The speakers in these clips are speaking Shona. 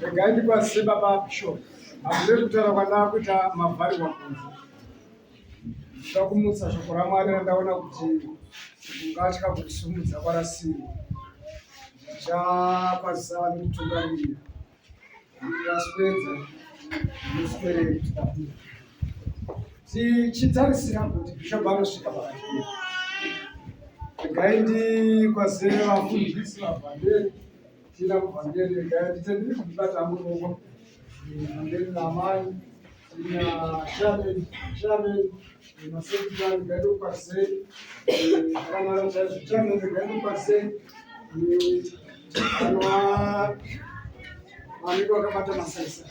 regai ndikwazise baba bishop hazvire kutaura kwandaa kuita mavharirwa kunze ndoda kumutsa shoko ramwari randaona kuti ungatya kurisumudza kwarasiri ndichakwazisa vane kutungamirira ndikaswedza ndoswerei tichitarisira kuti bhishopu anosvika pakati pedu regai ndikwaze vafundisi vavhangeri tiita muvhangeri regai nditendere kundibata hangu ruoko vhangeri namai tina shameni shameni masekita regai ndokwaze akamara chaizvo shameni regai ndokwaze anova vanenge vakabata masaisai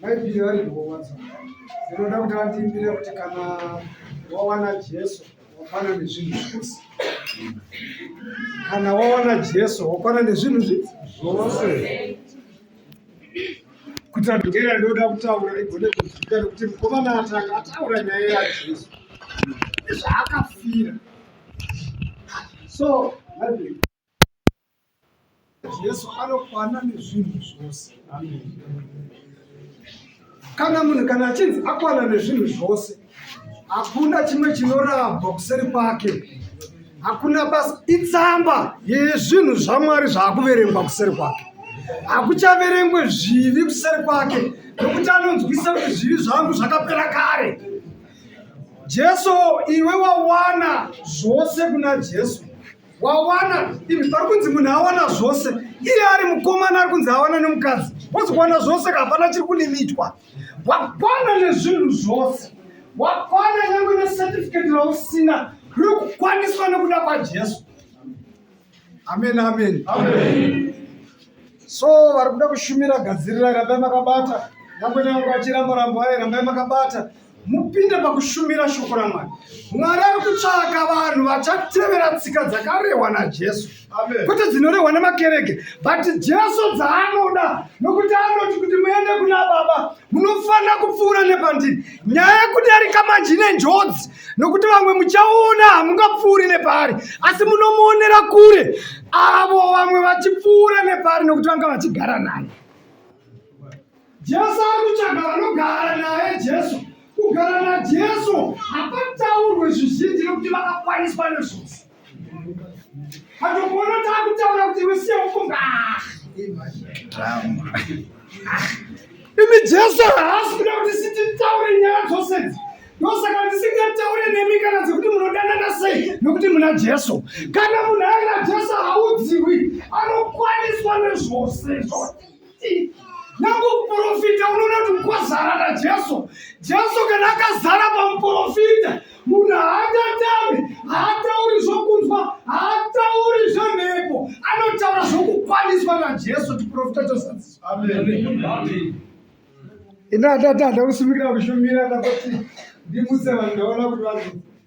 Bhaibheri vari kuhova dzoga dzinoda kuti vatiimbire kuti kana wawana Jesu wakwana nezvinhu zvose. Kana wawana Jesu wakwana nezvinhu zvose. Kuti andogera ndoda kutaura igone kuzvika kuti mukomana atanga ataura nyaya yaJesu. Zvaakafira. So, Bhaibheri Jesu anokwana nezvinhu zvose. Amen. Kana munhu kana achinzi akwana nezvinhu zvose, hakuna chimwe chinorambwa kuseri kwake. Hakuna basa, itsamba yezvinhu zvaMwari zvaakuverengwa kuseri kwake. Hakuchaverengwe zvivi kuseri kwake, nokuti anonzwisa kuti zvivi zvangu zvakapera kare. Jesu, iwe wawana zvose kuna Jesu. wawana ivi pari kunzi munhu awana zvose iye ari mukomana ari kunzi awana nemukadzi wozokuwana zvose kahapana chiri kulimitwa wakwana nezvinhu zvose wakwana nyange necertificate rausina riri kukwaniswa nekuda kwajesu amen amen, amen. so vari kuda kushumira gadzirirai rambai makabata nyange nyange achiramba rambo aye rambai makabata mupinde pakushumira shoko ramwari mwari ari kutsvaka vanhu vachatevera tsika dzakarehwa najesu kwete dzinorehwa nemakereke but jesu dzaanoda nokuti anoti kuti muende kuna baba munofanira kupfuura nepandiri nyaya yekudarika manje ine njodzi nokuti vamwe muchaona hamungapfuuri nepaari asi munomuonera kure avo vamwe vachipfuura nepaari nokuti vanga vachigara naye Jesu ari kutsvaga vanogara naye Jesu. Kugara naJesu hapataurwe zvizhinji nekuti vakakwaniswa nezvose. Hatokuona taakutaura kuti iwe siya ufunga. Imi Jesu haasi kuda kuti sititaure nyaya dzose idzi. Ndosaka ndisingataure nemi kana dzekuti munodanana sei nokuti muna Jesu. Kana munhu aina Jesu haudziwi, anokwaniswa nezvose izvozvo. nangu muporofita unoona kuti mukwazara najesu jesu kana akazara pamuporofita munhu haatatame haatauri zvokunzwa haatauri zvemhepo anotaura zvokukwaniswa najesu tiporofita chosadziswa ino atati hada kusimikira kushumira ndakoti ndimutse vanhu ndaona kuti vanhu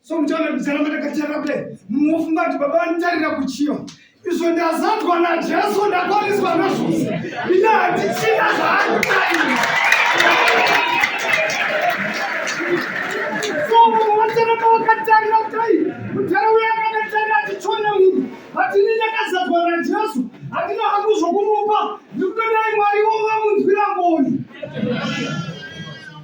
so mutaura ndicharamba ndakachara kudai mufunga kuti baba vanitarira kuchiva izvo ndazadzwa najesu ndakwaniswa nazvo ina handichina zvaanditarira so munhu wacharamba wakatarira kudai mutara uya akakatarira achichona munhu vati ini ndakazadzwa najesu handina hangu zvokumupa ndikutodai mwari wo vamunzwira ngoni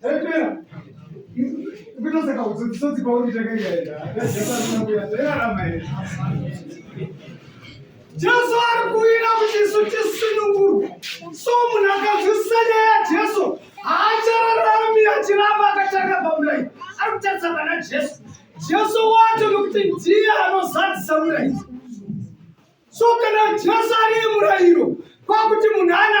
Zvapera. Ukitoseka utsotsi pauri takaenda. Zvakaramba here? Jesu ari kuwira kuti isu tisunungurwe. So munhu akanzwisisa nyaya yaJesu haachararami achiramba akatanga pamurayi. Ari kutarisa pana Jesu. Jesu wacho nokuti ndiye anozadzisa murayi. So kana Jesu ari murayiro kwakuti munhu ana